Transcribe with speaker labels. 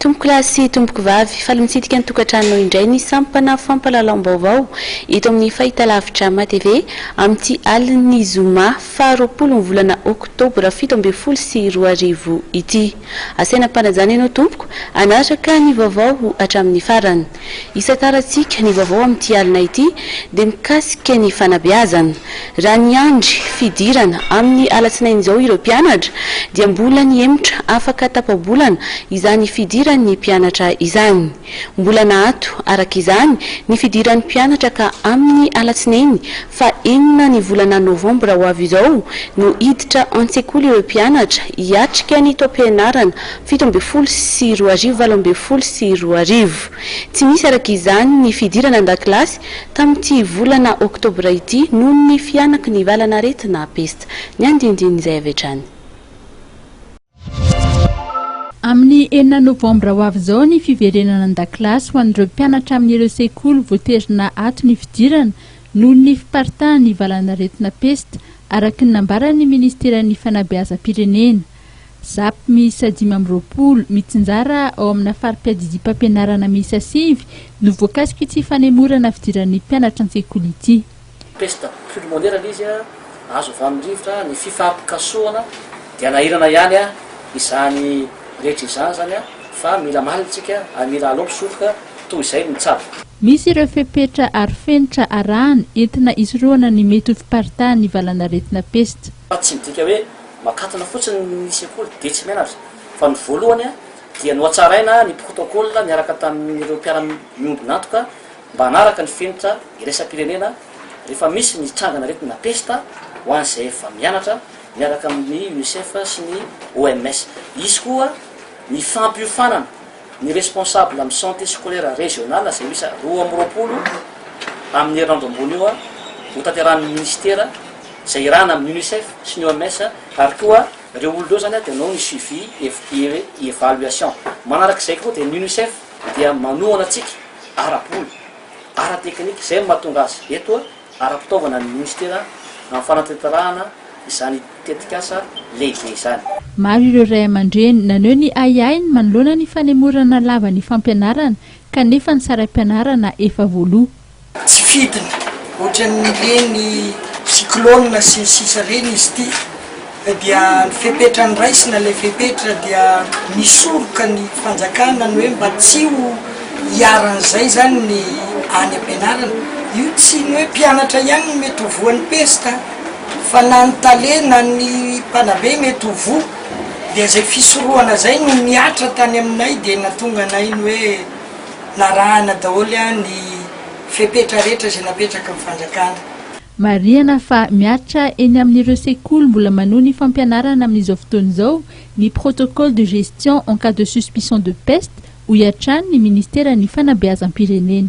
Speaker 1: Tompokolahy sy tompokovavy, faly mitsidika ny tokantrano indray ny sampana fampahalalam-baovao eto amin'ny fahitalavitra MATV amin'ity alin'ny zoma faha roapolo ny volana oktobra fito ambin'ny folo sy roa arivo ity. Asaina am-panajana ianao tompoko hanaraka ny vaovao hatramin'ny farany. Isan-tarantsika, ny vaovao amin'ity alina ity dia mikasika ny fanabeazana. Raha niandry fidirana amin'ny alatsinainy izao ireo mpianatra dia mbola nihemotra afaka tapa-bolana izany fidiran'ny mpianatra izany. Mbola naato, araka izany, ny fidiran'ny mpianatra ka amin'ny alatsinainy fa enina ny volana novambra ho avy izao no hiditra an-tsekoly ireo mpianatra hiatrika ny taom-pianarana fito ambin'ny folo sy roa arivo, valo ambin'ny folo sy roa arivo. Tsy nisy araka izany ny fidirana an-dakilasy tamin'ity volana oktobra ity noho ny fihanaky ny valan'aretina pesta. Ny andinindin'izay avy hatrany.
Speaker 2: Amin'ny enina novambra ho avy izao ny fiverenana an-dakilasy ho an'ireo mpianatra amin'ireo sekoly voaterina ato ny fidirana noho ny fiparitahan'ny valan'aretina pesta, araka ny nambaran'ny minisiteran'ny fanabeazam-pirenena. Zap miisa dimy amby roapolo, mitsinjara ao amina fari-piadidiam-pampianarana miisa sivy, no voakasik'ity fanemorana fidiran'ny mpianatra an-tsekoly ity. Pesta
Speaker 3: pulmonaire ilay izy, azo avy amin'ny rivotra, ny fifampikasohana, dia nahirana ihany izany rehetra izany izany fa mila malina isika ary mila alao mpisoroka toy izay no tsara. Misy ireo
Speaker 2: fepetra arofenitra arahana entina hisorohana ny mety ho fiparitahan'ny valan'aretina pesta. Fa tsy midika hoe
Speaker 3: makatona fotsiny ny sekoly dia tsy mianatra, fa ny voalohany dia nohatsaraina ny protocoles niaraka tamin'ireo mpiara-miombon'antoka mba hanaraka ny fenitra iraisam-pirenena rehefa misy ny trangan'aretina pesta ho an'izay efa mianatra miaraka amin'ny UNICEF sy ny OMS. Hisy koa ny fampiofanana. Ny responsable amin'ny Santé Scolaire Régional izay miisa roa amby roapolo amin'ny herinandro ambony io ho tanterahin'ny Minisitera izay irahana amin'ny Unicef sy ny OMS ary koa ireo olona ireo izany dia hanao ny suivi et evaluation. Manaraka izay koa dia ny Unicef dia manohana antsika ara-bola, ara-teknika izay no mahatonga azy eto. ara-pitaovana ny minisitera amin'ny fanatanterahana izany tetikasa lehibe izany. Maro ireo ray
Speaker 2: aman-dreny naneho ny ahiahiny manoloana ny fanemorana lava ny fampianarana kanefa ny saram-pianarana efa voaloa. Tsy fidiny
Speaker 4: ohatran'ireny cyclone sy ny sisa ireny izy ity Ka dia ny fepetra noraisina, ilay fepetra dia nisoroka ny fanjakana ny hoe mba tsy ho iharan'izay izany ny any am-pianarana. Io tsy ny hoe mpianatra ihany no mety ho voan'ny pesta fa na ny tale na ny mpanabe mety ho voa. Dia izay fisorohana izay no nihatra tany aminay dia nahatonga anay ny hoe narahana daholo ny fepetra rehetra izay napetraky ny fanjakana. Marihana
Speaker 2: fa mihatra eny amin'ireo sekoly mbola manohy ny fampianarana amin'izao fotoana izao ny protocole de gestion en cas de suspicion de peste, hoy hatrany ny Ministeran'ny Fanabeazam-pirenena.